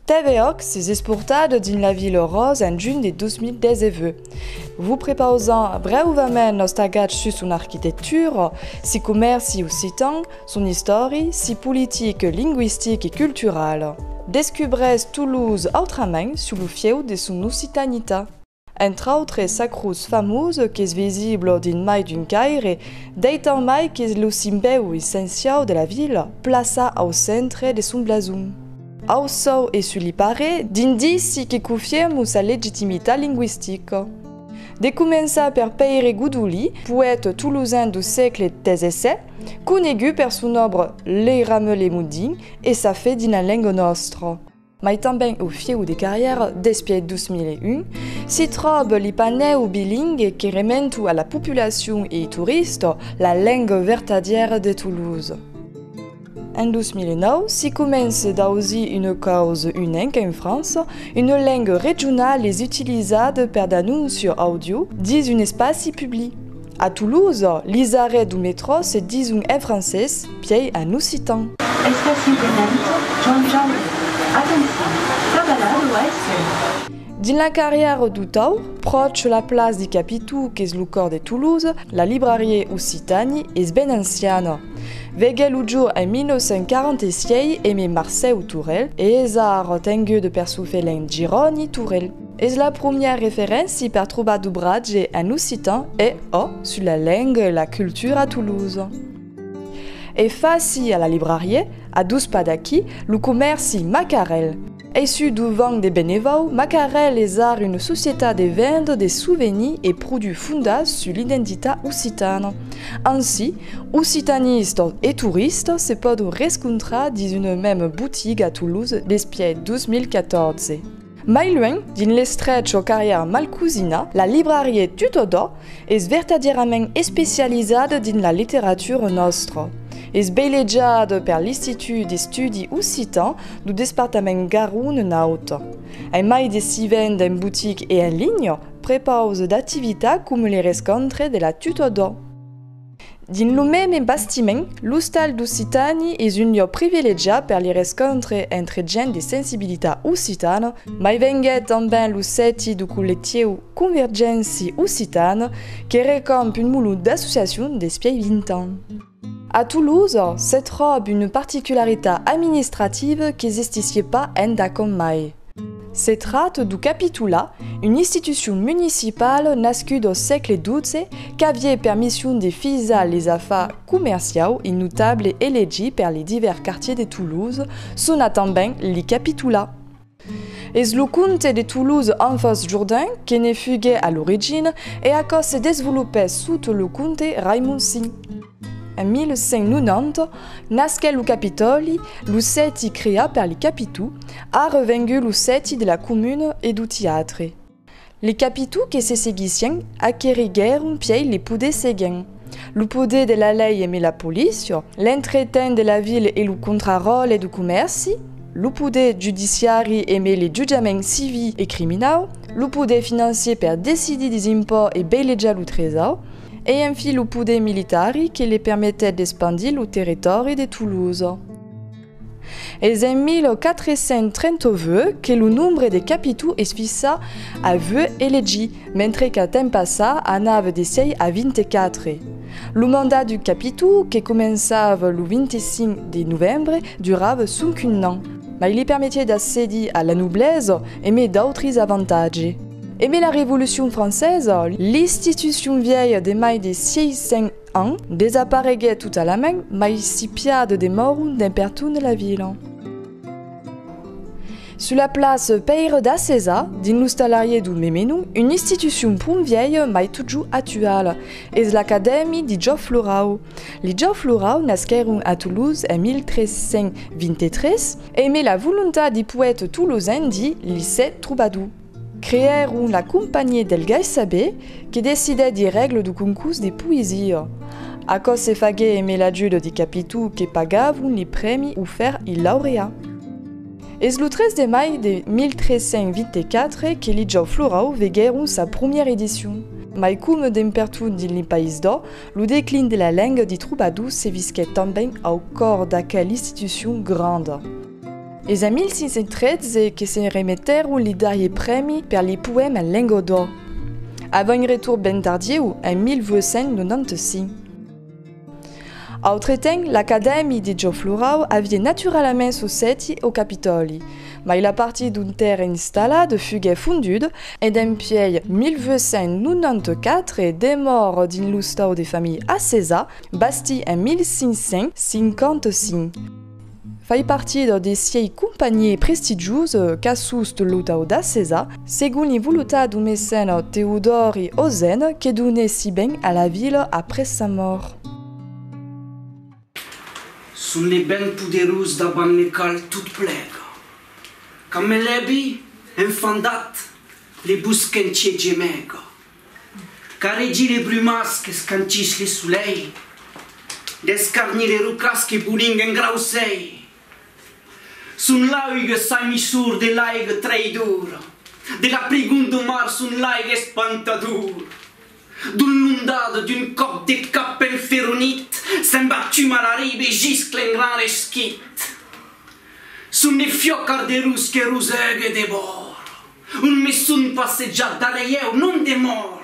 TVOx es esportat dins la Vila Aurós en junh de 2019. Vos prepausam brèuvament nos tagats sus son arquitectura, si comèrci occitan, son istòri, si politic, lingüistic e cultural. Descubrètz Toulouse autrament sus lo fieu de son occitanitat. Entre autres sacrus famós qu'es visible dins mai d'un caire, deitan mai qu'es lo simbèu essenciau de la vila, plaça au centre de son blason. Au sòu e sul lipare, d'indici que cofiermu sa legitimitat lingüistica. De començar per Pèire Godolí, poète tolosan du sègle xvi, conegut per son òbra Lei Rameulé Modin e sa fe dins la lenga nòstra. mai tanben au fieu de carrièra despièit 2001, s'i tròb li panèu bilingue que rementu a la populacion e i tourista la lenga vertadièra de Toulouse. En 2009, s'i comence d'ausir una cause unenc en França, una lenga regional es utilizada per d'anóncios audio dins un espaci public. A Toulouse, lis arrets du metro se dison en francés, pièi en occitan. Especialment John John. Atencion, cavalà lo haisse. Dins la carrièra du Taur, pròche la place di Capitu qu'es lo còr de Toulouse, la librariè Occitani es ben anciana. Veguè lo jor en 1946 Aimé Marcèu Tourel e es ara tengude per çò felin Giròni Tourel. Es la promièr referénci per trobar dobratge en occitan e ò sus la lenga e la cultura a Toulouse. E faci a la librarié, a dos pas d'aquí, lo comèrci Macarel. Ei su dovant de Benevau, Macarel es ar una societat de venda de souvenirs e produits fondas sus l'identitat occitana. Ansi, occitanistas e toristas se pòdon rescontrar dins una mèma botiga a Toulouse despièi 2014. Mai luènh, dins l'estrech o carrièr Malcusina, la librarié Tutodò es vertadièrament especializada dins la literatura nòstra. Es veilejada per l'Istitut d'Estudi Occitan du Despartament Garonne-Naut. Ai mai de si vend en botic e en linha, prepausa d'activitats coma li rescontre de la Tutodò. Dins lo meme bastiment, l'Ostal d'Occitàni es un lieu privilegiat per li rescontre entre gent de sensibilitat occitana, mai venguèt tanben lo sèti du collectiu Convergénci Occitane que recomp un mulot d'associacions despièi 20 ans. A Tolosa, se tròb una particularitat administrativa qu'existissié pas endacòm mai. Se tracte du Capitula, un institucion municipal nascut au sègle xii qu'avié per mission de fisar les afars comerciaus e notable elegit per les divers quartiers de Toulouse sona tanben li Capitula. Es lo comte de Toulouse Anfos Jourdain que ne fugué a l'origina e aquò se desvolopèt sota lo comte Raimond vi. En 1590, nasquèt lo Capitòli, lo sèti creat per li Capitu, ara vengut lo sèti de la comuna e do teatre. Li Capitu que se seguissien aqueriguèron pièi li poders seguents, lo poder de la lei e me la polícia, l'entretent de la vila e lo contraròtle do comèrci, lo poder judiciari e me li jutjaments civi e criminau, lo poder financier per decidir des impòts e beilejar lo tresaur, e en fi lo poder militari que le permetèt d'espandir lo territòri de Tolosa. Es en 1438 que lo nombre de capitaux es fissa a 8 elegi, mentre qu'a temps passat anava de 6 a 24. Lo mandat du capitau, que començava lo 25 de novembre, durava sonqu'un an, mas li permetièt d'accedir a la noblesa e mai d'autres avantatges. E mai la Revolucion Francesa, l'institucion vièlha de mai de 600 ans, desapareguèt totalament, mai si pià de demòron dens pertun la vila. Sus la place Pèire d'Acesa, dins l'ostalarier du meme nom, una institucion pron vièlha mai totjor actuala, es l'Acadèmia de Jòf Lorau. Li Jòf Lorau nasquèron a Toulouse en 1323, e mai la volontat de poète tolosenc di li sèt trobador. Creèron la Compagnie del Gai Saber que decidèt de règle du concurs de poesia. Aquò se faguè emé l'ajut de Capitu que pagavon le prèmi ofèrt il laureat. Es lo 3 de mai de 1324 que li Jau Florau veguèron sa promièra edicion. Mai coma dempertot dins li País d'Ò, lo declin de la lenga de trobadors se visquèt tanben au còr d'aquel institucion granda. Es a 1513 que se remetèron li darrier prèmi per li poèma Lengo d'Ò, avant un retorn ben tardieu en 1895. Autretemps, l'Acadèmi de Jò Florau aviá naturalament sos sèti au Capitòli, mai la partir d'un terren installat fuguèt fonduda e dempuèi 1894 demòra dins l'ostau de familha Acesa, bastit en 1555. Fai partida de siei companhièr prestigiós, Cassust Lotau d'Acesa, segon li volotat du mecèna Teodòri Ozen que donèt si ben a la vila après sa mòrt. Son le ben poderós davant le qual tot plega. Quand me lebi, enfandat, le bosquentier gemega. Carregir es brumas qu'escanchís le solei, descarnir es rocas que boling en grausei. Son l'auge saimissor de l'aiga traïdora, de la prigon do mar son l'aiga espantadora. D'on l'ondada d'un còp de cap enferonit se'n va tuma la riba e giscla en gran resquit. Son de fiòcar de rus que rosega de bòra. Un meson passejat darrièu non demòr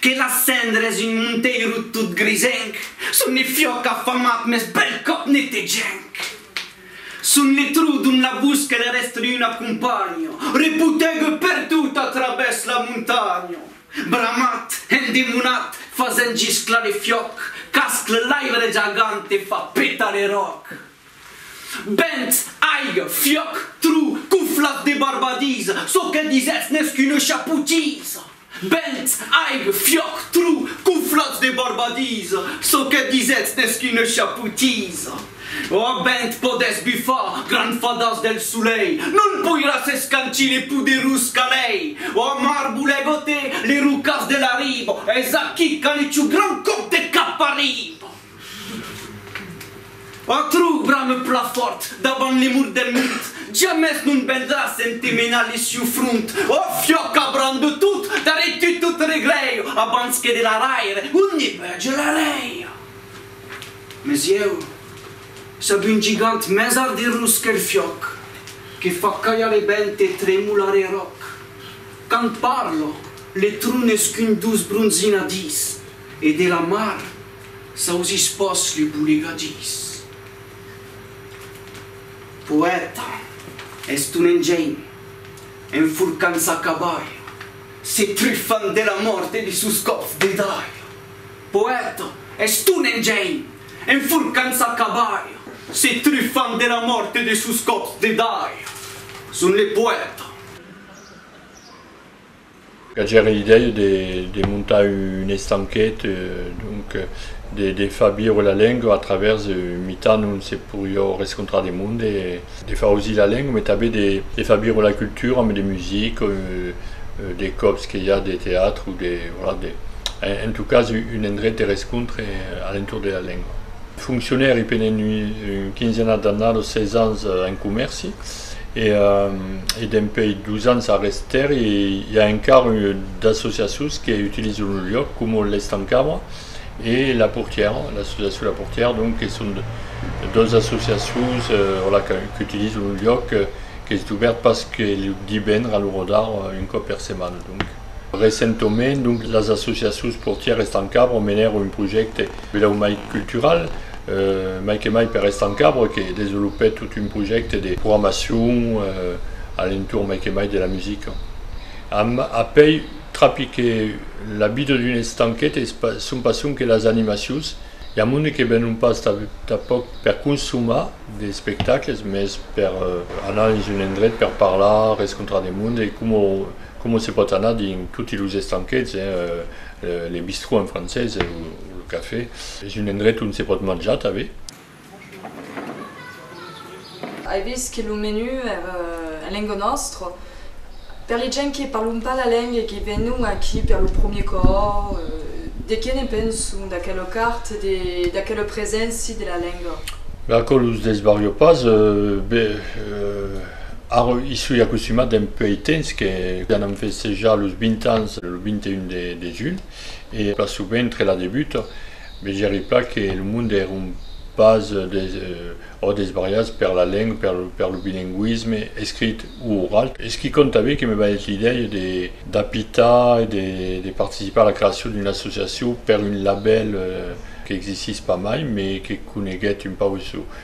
que las cendres un monteiro tot grisenc son le fiòc afamat mès bèl còp netegenc son le trou dont la busca de rèstre un acompanho repotègue perdut a travèrs la montanha bramat endemonat fasent gisclar le fiòc cascle l'aibre jagant e fa petar le ròc. Bènt, aiga, fiòc, tru, cuflas de barbadís, çò que disètz n'es qu'una chapotís! Bènt, aiga, fiòc, tru, cuflas de barbadís, çò que disètz n'es qu'una chapotís! Ò bènt, podètz bufar, gran fadàs del solei, non poiràs escancir le poderós calei! Ò mar, volè goter le rocàs de la riba, es aquí qu'a le chou gran còp de cap arriba! Atru, brame plan fòrt, davant li murs del mond, jamès non vendràs ente menar li siu front, ò fiòc abrant de tot, darrèr tu tot reglèir, abans que de la raire, un ne vege la raire. Mes ieu, sab un gigant mès ardirós qu'el fiòc, que fa calhar e bènt e tremolar e ròc. Quand parlo, le tron es qu'un doç bronzinadís, e de la mar, Sausís pas li bolegadís. Poèta, es ton engenh, enforcant sa cabalha, se trifant de la mòrt e de sos còps de dalha. Poèta, es ton engenh, enforcant sa cabalha, se trifant de la mòrt e de sos còps de dalha. Son le poèta. Qu'agèri l'idèia de montar un estanquet, donc de far viure la lenga a travèrs un mitan ont se poriá rescontrar de monde, de far ausir la lenga, mai tanben de far viure la cultura amb de musica, de còps que i a de teatre o de, voilà, de, en tot cas, un endret de rescontre a l'entorn de la lenga. Foncionèri pendent una quinzena d'annadas, 16 ans en comèrci. e dempèi dus ans a Rester i a encara d'associacions que utilizan lo luòc coma l'Estancava e La Portièra, l'associacion La Portièra donc que son dos associacions qu'utilizan lo luòc qu'es dubèrt pas que lo divendres a l'ora d'ara un còp per setmana donc. Recentoment, donc, las associacions portières Estancabro menèron un projècte bèu mai cultural, mai que mai per Estancabro que desvolopèt tot un projècte de programacion a l'entorn mai que mai de la musica. Amb apèi trapi que la vida d'un estanquet es pas son passion que las animacions, i a monde que venon pas tanpòc per consomar d'espectacles, mès per anar dins un endret per parlar, rescontrar de monde e coma Coma se pòt anar dins toti los estanquets, le bistrot en francés, o lo cafè. Es un endrech ont se pòt manjar tanben. Ai vist que lo menu èra en lenga nòstra. Per li gents que parlon pas la lenga e que venon aquí per lo promier còp, de qué ne penson d'aquela cart e d'aquela preséncia de la lenga? Aquò los desbarrió pas. Ara i soi acostumat dempuèi ei temps que anam festejar los 20 ans lo 21 de julh e pas sovent entre la debuta. Me gèri plan que lo monde èron pas ò desbarrajats per la lenga, per lo bilingüisme escrit o oral. Es qui conta be que me balhèt l'idèia d'apitar e de participar a la creacion d'una associacion per un labèl qu'existís pas mai, me que coneguèt un pauc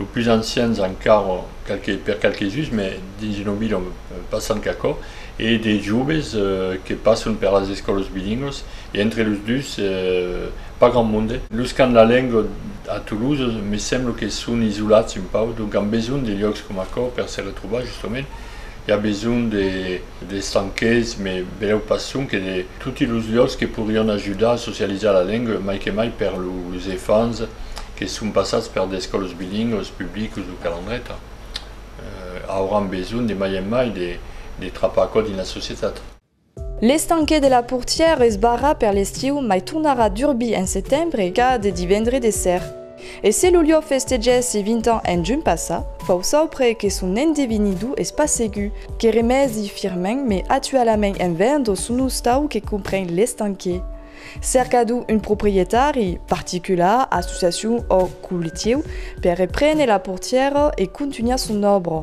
Los pus ancians encara qualques per qualques uns, mai dins una vila passan qu'aquò, e de joves que passan per las escòlas bilingüas e entre los dus pas grand monde. Los qu'an la lenga a Toulouse me sembla que son isolats un pauc, donc an besonh de lhòcs coma aquò per se retrobar justament. I a besonh de d'estrangers, me velèu pas sonque de toti los lhòcs que podrián ajudar a socializar la lenga, mai que mai per los efants que son passats per d'escòlas bilingüas publicas o calandreta, auràn besonh de mai en mai de trapar aquò dins la societat. L'estanquet de la portièr es barrat per l'estiu mai tornarà durbir en setembre ca de divendre de ser. E se lo liò festegèssi 20 ans en junh passat, fau saupre que son endevinidor es pas segur que remèsi firmèn me atualament en vendo son ostau que compren l'estanquet. Cercador un proprietari, particular, associacion ò collectiu, per reprene la portièra e contunhar son òbra.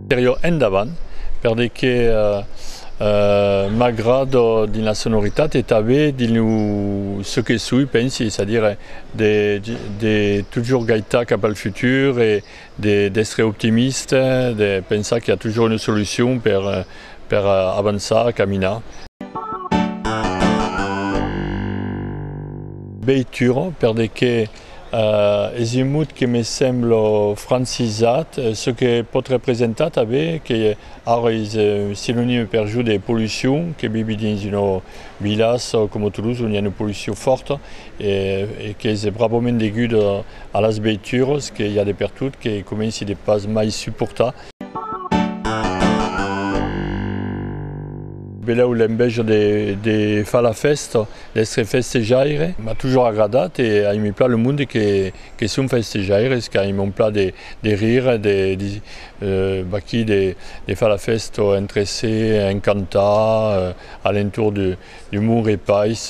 Per jo endavant, per de que m'agrada dins la sonoritat e tanben dins lo çò que soi, pensi, es a dire de de totjorn gaitar cap al futur e de d'èstre optimista, de pensar qu'i a totjorn una solucion per per avançar, caminar. Veitura, per de que Es un mot que me semblo francisat, çò que pòt representar tanben que ara es un sinonime per jo de pollucion, que vivi dins una vilas coma Toulouse ont i a una pollucion fòrta e qu'es bravament deguda a las veituras que i a de pertot que comenci de pas mai suportar. Velèu l'enveja de far la fèsta. D'èstre festejaire m'a toujours agradat e aimi plan le monde que son festejaires, qu'aimon plan de rire, de vaquí, de far la fèsta entre se, en cantar a l'entorn de mon repais.